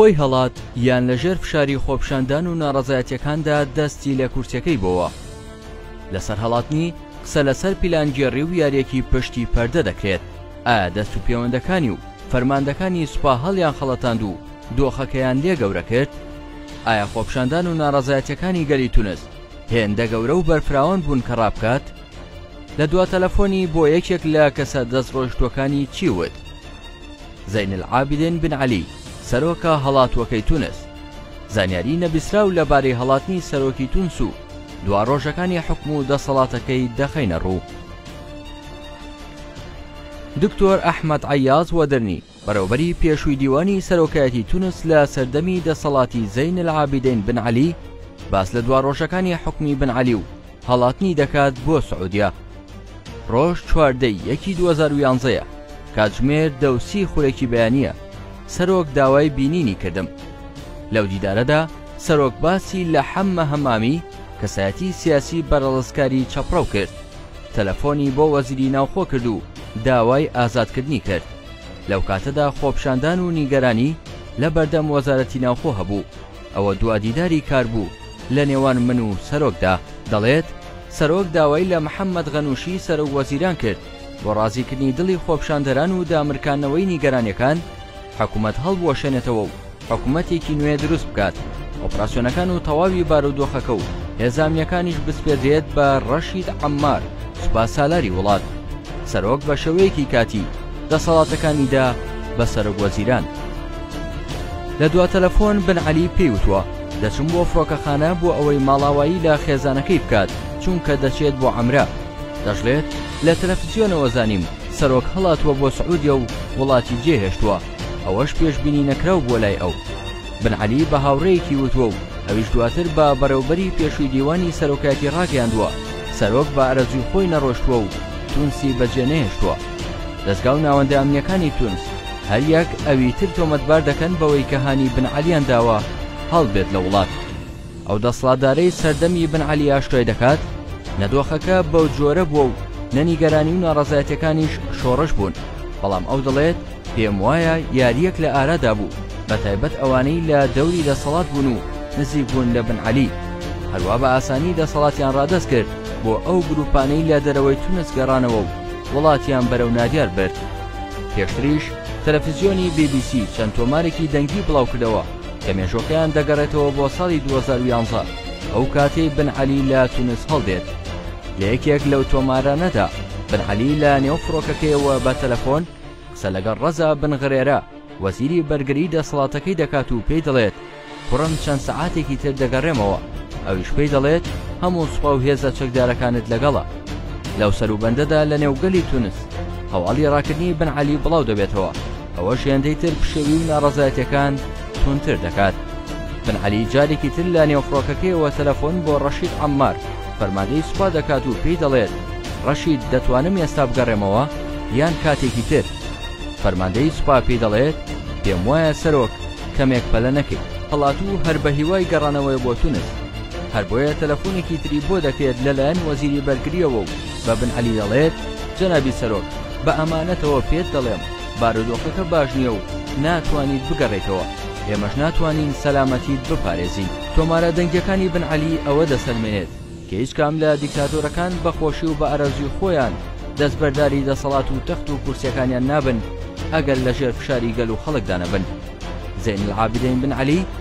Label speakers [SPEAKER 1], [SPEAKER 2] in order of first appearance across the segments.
[SPEAKER 1] خۆی هەڵات یان لەژێر فشاری خۆپشاندان و ناڕەزایەتەکاندا دەستی لە کورتەکەی بۆوە لەسەر هەڵاتنی قسە لەسەر پیلانگێڕی و یاریەکی پشتی پەردە دەکرێت ئایا دەست و پێوەندەکانی و فەرماندەکانی سوپا هەڵیان خەڵەتاند و دۆخەکەیان لێ گەورە کرد ئایا خۆپشاندان و ناڕەزایەتەکانی گەلی تونست هێندە گەورە و بەرفراوان بوون کە ڕابکات لە دوا تەلەفۆنی بۆ یەکێک لە کەسە دەست ڕۆیشتووەکانی چی وت زین العابدین بن علی سەرۆکە هەڵاتووەکەی تونس زانیاری نەبیسراو لەبارەی هەڵاتنی سەرۆکی تونس و دوا ڕۆژەکانی حکم و دەسەڵاتەکەی دەخەینە ڕوو دکتۆر ئەحمد عیاز وەدرنی بەڕێوەبەری پێشووی دیوانی سەرۆکایەتی تونس لە سەردەمی دەسەڵاتی زەین العابدین بن عەلی باس لە دواڕۆژەکانی حکومی بن عەلی و هەڵاتنی دەکات بۆ سعودیە ڕۆژ چواردەی یەکی 2011ە کاتژمێر دەوسی خورێکی بەیانە سەرۆک داوای بینینی کردم لەو دیدارەدا سەرۆک باسی لە حەممە هەمامی کەسایەتی سیاسی بەرەڵسکاری چەپڕەو کرد تەلەفۆنی بۆ وەزیری ناوخۆ کرد و داوای ئازادکردنی کرد. لەو کاتەدا خۆپیشاندان و نیگەرانی لە بەردەم وەزارەتی ناوخۆ هەبوو. ئەوە دوا دیداری کار بوو لە نێوان من و سەرۆکدا. دەڵێت، سەرۆک داوای لە محەممەد غەنووشی سەرۆک وەزیران کرد بۆ ڕازیکردنی دڵی خۆپیشاندەران و دامرکاندنەوەی نیگەرانییەکان، حکومەت هەڵبوەشێنێتەوە و حکومەتێکی نوێ دروست بکات، ئۆپراسیۆنەکان و تەواوی بارودۆخەکە و هێزامنیەکانیش بسپێردرێت بە ڕەشید عەمار سوپا سالاری وڵات. سەرۆک بە شێوەیەکی کاتی دەسەڵاتەکانی دا بە سەرۆک وەزیران. لە دوا تەلەفۆن بن عەلی پێی وتوە، دەچم بۆ فڕۆکەخانە بۆ ئەوەی ماڵاوایی لە خێزانەکەی بکات چونکە دەچێت بۆ عەمرە. دەشڵێت، لە تەلەفزیۆنەوە زانیم سەرۆک هەڵاتووە بۆ سعودیە و وڵاتی جێهێشتووە، ئەوەش پێشبینی نەکراو بووە لای ئەو. بن عەلی بە هاوڕێیەکی وتووە و ئەویش دواتر بە بەڕێوبەری پێشووی دیوانی سەرۆکایەتی راگەیاندووە، سەرۆک بە ئارەزووی خۆی نەڕۆشتووە و تونسی بەجێنەهێشتووە. دەزگا و ناوەندە ئەمنییەکانی تونس هەریەک ئەوی تر تۆمەتبار دەکەن بەوەی کە هانی بن عەلییان داوە هەڵبێت لە وڵات. ئەو دەسڵاتدارەی سەردەمی ئیبن عەلی ئاشکرای دەکات، نە دۆخەکە بەو جۆرە بووە و نە نیگەرانی و ناڕەزایەتیەکانیش شۆڕش بوون، بەڵام ئەو دەڵێت، پێم وایە یارییەک لە ئارادا بوو، بە تایبەت ئەوانەی لە دەوری دەسەڵات بوون و نزیک بوون لە بن عەلی، هەروا بە ئاسانی دەسەڵاتیان ڕادەست کرد بۆ ئەو گروپانەی لە دەرەوەی تونس گەڕانەوە و وڵاتیان بەرەو نادیار برد. پێشتریش تەلەفزیۆنی بی بی سی چەند تۆمارێکی دەنگی بڵاوکردەوە، کە مێژووەکەیان دەگەڕێتەوە بۆ ساڵی دوو هەزار و یازدە ئەو کاتەی بن عەلی لە تونس هەڵدێت لە یەکێک لەو تۆمارانەدا بن عەلی لە نێو فڕۆکەکەیەوە بە تەلەفۆن قسە لەگەڵ ڕەزا بن غرێرە وەزیری بەرگری دەسەڵاتەکەی دەکات و پێی دەڵێت کوڕم چەند سەعاتێکی تر دەگەڕێمەوە ئەویش پێی دەڵێت هەموو سوپا و هێزە چەکدارەکانت لەگەڵە لەو سەروبەندەدا لە نێوگەلی تونس هەواڵی ڕاکردنی بن عەلی بڵاو دەبێتەوە ئەوەش هێندەی تر پشێوی و ناڕەزایەتەکان تونتر دەکات بن علی جارێکی تر لە نێو فڕۆکەکەیەوە تەلەفۆن بۆ ڕەشید عمار فەرماندەی سوپا دەکات و پێی دەڵێت ڕەشید دەتوانم ئێستا بگەڕێمەوە یان کاتێکی تر فەرماندەی سوپا پێی دەڵێت پێم وایە سەرۆک کەمێک پەلە نەکەیت هەڵات و هەر بە هیوای گەڕانەوەی بۆ تونس هەر بۆیە تەلەفۆنێکی تری بۆ دەکرێت لەلایەن وەزیری بەرگریەوە و بە بن عەلی دەڵێت، جەنابی سەرۆک، بە ئەمانەتەوە پێت دەڵێم، بارودۆخەکە باش نییە و ناتوانیت بگەڕێیتەوە، ئێمەش ناتوانین سەلامەتیت بپارێزین. تۆمارە دەنگییەکانی بن عەلی ئەوە دەسەلمێنێت کە هیچ کام لە دیکتاتۆرەکان بە خۆشی و بە ئارەزووی خۆیان دەستبەرداری دەسەڵات و تەخت و کورسییەکانیان نابن ئەگەر لەژێر فشاری گەل و خەڵکدا نەبن. زەین العابدەین بن عەلی،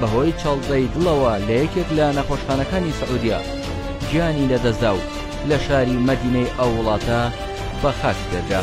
[SPEAKER 1] بەهۆی چەڵزەی دڵەوە لە یەکێک لە نەخۆشخانەکانی سعودیە گیانی لەدەستدا و لە شاری مەدینەی ئەو وڵاتە بە خاک سپێردرا.